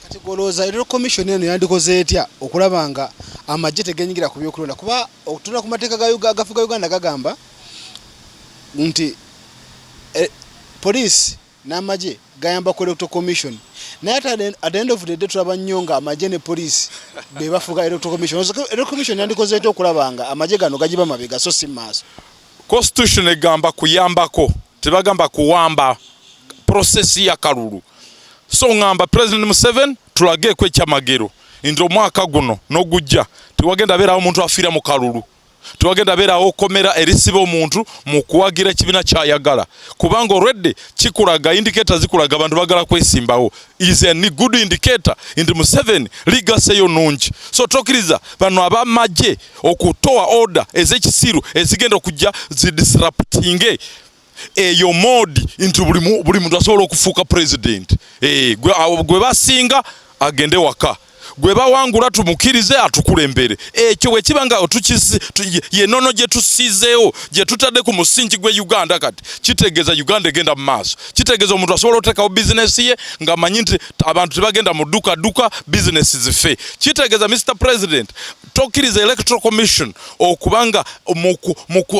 Kati gwolowooza electoral commission eno yandikoze etya okulaba nga amagye tegenyigira ku byokulonda kuba okutunda ku mateeka gafuga uganda gagamba nti eh, poliisi n'amagye gayamba ku electoral commission naye ate at the end of the day tulaba nnyo nga amagye ne poliisi be bafuga electoral commission electoral commission yandikoze etya okulaba nga amagye gano gagiba mabega so si maaso constitution egamba kuyambako tebagamba kuwamba process ya kalulu so ngamba president museven tulageeko ekyamagero nti omwaka guno nogujja tewagenda beerawo omuntu afiira mu kalulu tewagenda beerawo okomera erisiba omuntu mu kuwagira ekibiina kyayagala kubanga olwedde kikulaga indiketa zikulaga abantu bagala kwesimbawo is a good indicator nti Museveni ligase yo nungi so tokiriza bano abamagye okutoa order ezekisiru ezigenda okujja zi disruptinge eyo modi nti buli muntu asobola okufuuka president eh, gwe basinga agende waka gwe bawangula tumukirize atukulembere ekyo bwekiba nga yenono gyetusizeewo gyetutadde ku musingi gwe uganda kati kitegeeza uganda egenda mu maaso kitegeeza omuntu asobola otekawo bizinesi ye nga manyi nti abantu tebagenda mu dukaduka bizinesi zife kitegeeza mr president tokiriza electoral commission okuba nga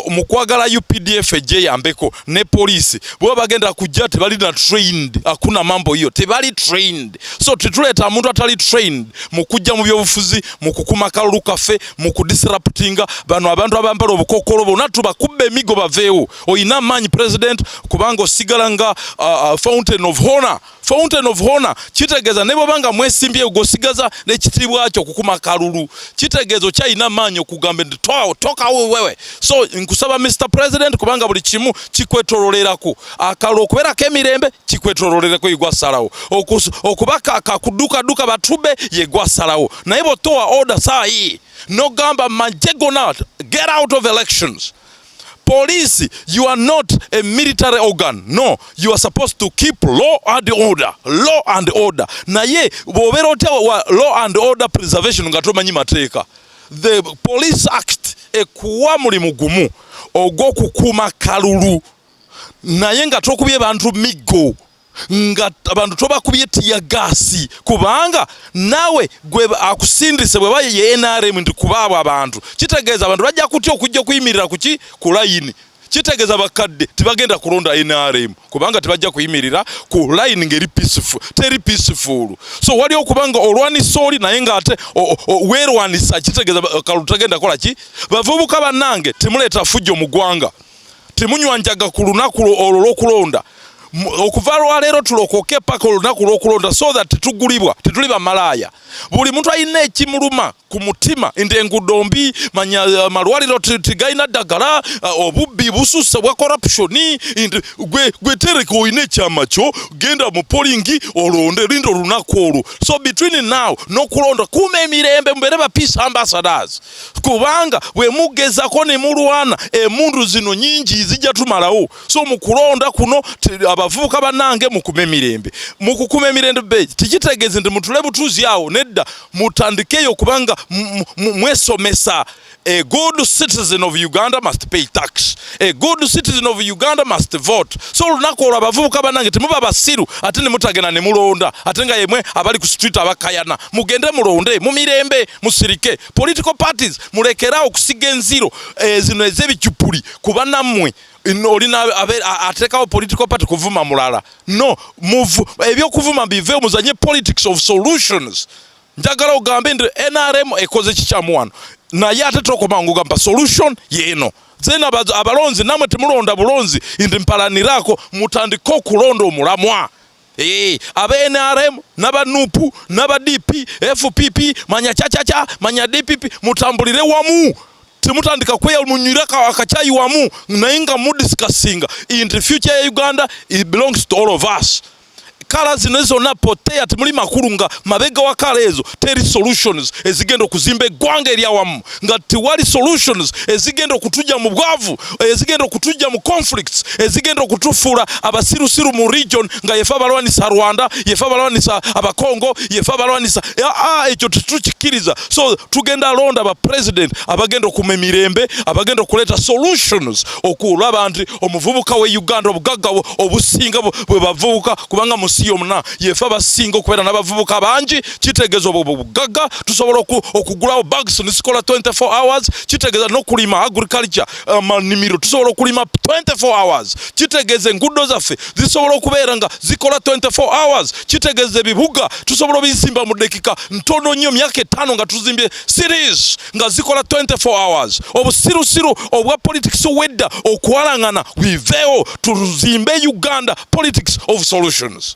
mu kwagala updf ejeyambeko ne poliisi bweba bagenda kujja tebali na trained akuna mambo hiyo tebali trained so tetuleeta muntu atali trained mu kujja mu byobufuzi mu kukuma kalulu kaffe mu kudisruptinga bano abantu abambala obukokolo bona tubakubba emigo baveewo olina amaanyi president kubanga osigala nga uh, uh, fountain of honor Fountain of Honor kitegeeza ne bw'oba nga mwesimbyeyo gw'osigaza n'ekitiibwa kyo okukuma kalulu kitegeeza okyalina amaanyi okugamba nti tokawo wewe so nkusaba Mr President kubanga buli kimu kikwetololerako akalulu okubeerako emirembe kikwetololereko yegwasalawo okuba kakudukaduka batube yegwasalawo naye bw'otowa order saayi n'ogamba majje gona get out of elections Police, you are not a military organ. No, you are supposed to keep law and order. Law and order. Naye bobera otya wa law and order preservation nga tomanyi mateeka. The Police Act ekuwa mulimu gumu ogw'okukuuma kalulu naye nga tokubye bantu miggo. nga abantu tobakubye tiya gaasi kubanga naawe gwe akusindise bwe baye ye nrm nti kubaabo abantu kitegeeza abantu bajja kutya okujja okuyimirira kuki ku layini kitegeeza bakadde tebagenda kulonda nrm kubanga tebajja kuyimirira ku layini ngeri peaceful teri peaceful so wali okuba nga olwanisa oli naye ngaate weerwanisa kitegeeza kalutagenda kola ki bavubuka bannange temuleeta fujjo mu ggwanga temunywa njaga ku lunaku olwo lwokulonda okuva lwaleero tulokoke paka olunaku lwokulonda so that tetugulibwa tetuli bamalaaya buli muntu alina ekimuluma ku mutima nti engudo mbi manya eh, malwaliro tigalina ddagala eh, obubbi bususa bwa corruption nti gwe tereka olina ekyama kyo genda mu polingi olonde linda olunaku olwo so between now nokulonda kuuma emirembe mubeere ba peace ambassadors kubanga bwe mugezako ne mulwana emundu zino nyingi zijja tumalawo so mu kulonda kuno abavubuka banange mukume mirembe mukukuma emirembe be tikitegeeze nti mutule butuuzi awo nedda mutandikeyo kubanga mwesomesa a good citizen of uganda must pay tax a good citizen of uganda must vote so olunaku olwo abavubuka banange temuba basiru ate nemutagenda nemulonda ate nga yemwe abali ku street abakayana mugende mulonde mu mirembe musirike political parties mulekerawo okusiga enziro eh, zino ezebicupuli kuba nammwe olina atekawo political party kuvuma mulala no ebyokuvuma bive muzanye politics of solutions njagala ogambe nti nrm ekoze kikyamu wano naye ate tokomangugamba solution yeeno zena abalonzi namwe temulonda bulonzi ndi mpalanirako mutandike okulonda omulamwa Hey, eh, aba NRM naba nupu naba DP FPP manya chachacha manya DPP mutambulire wamu temutandika kweyamunyira akakyayi wamu naye nga mudiscussinga in the future ya Uganda it belongs to all of us kala zino zonna potea temuli makulu nga mabega wa kala ezo teri solutions ezigenda okuzimba eggwanga eryawamu nga tewali solutions ezigenda okutujja mu bwavu ezigenda okutujja mu conflicts ezigenda okutufuula abasirusiru mu region nga yefe abalwanisa rwanda yefe abalwanisa abakongo yefe abalwanisa ekyo tetukikiriza so tugenda londa ba president abagenda okuma emirembe abagenda okuleeta solutions okulaba nti omuvubuka we uganda obugagga obusinga bwe bavubuka kubanga mu nsi yomuna yefe abasinga okubeera n'abavubuka bangi kitegeeza obwo bugagga tusobola okugulawo bags nisikola 24 hours kitegeeza nokulima agriculture amanimiro um, tusobola okulima 24 hours kitegeeza enguudo zaffe zisobola okubeera nga zikola 24 hours kitegeeza ebibuga tusobola obizimba mu dekika ntono nnyo myaka ettaano nga tuzimbye series nga zikola 24 hours obusirusiru obwa politics obwedda okwalangana biveewo tuzimbe uganda politics of solutions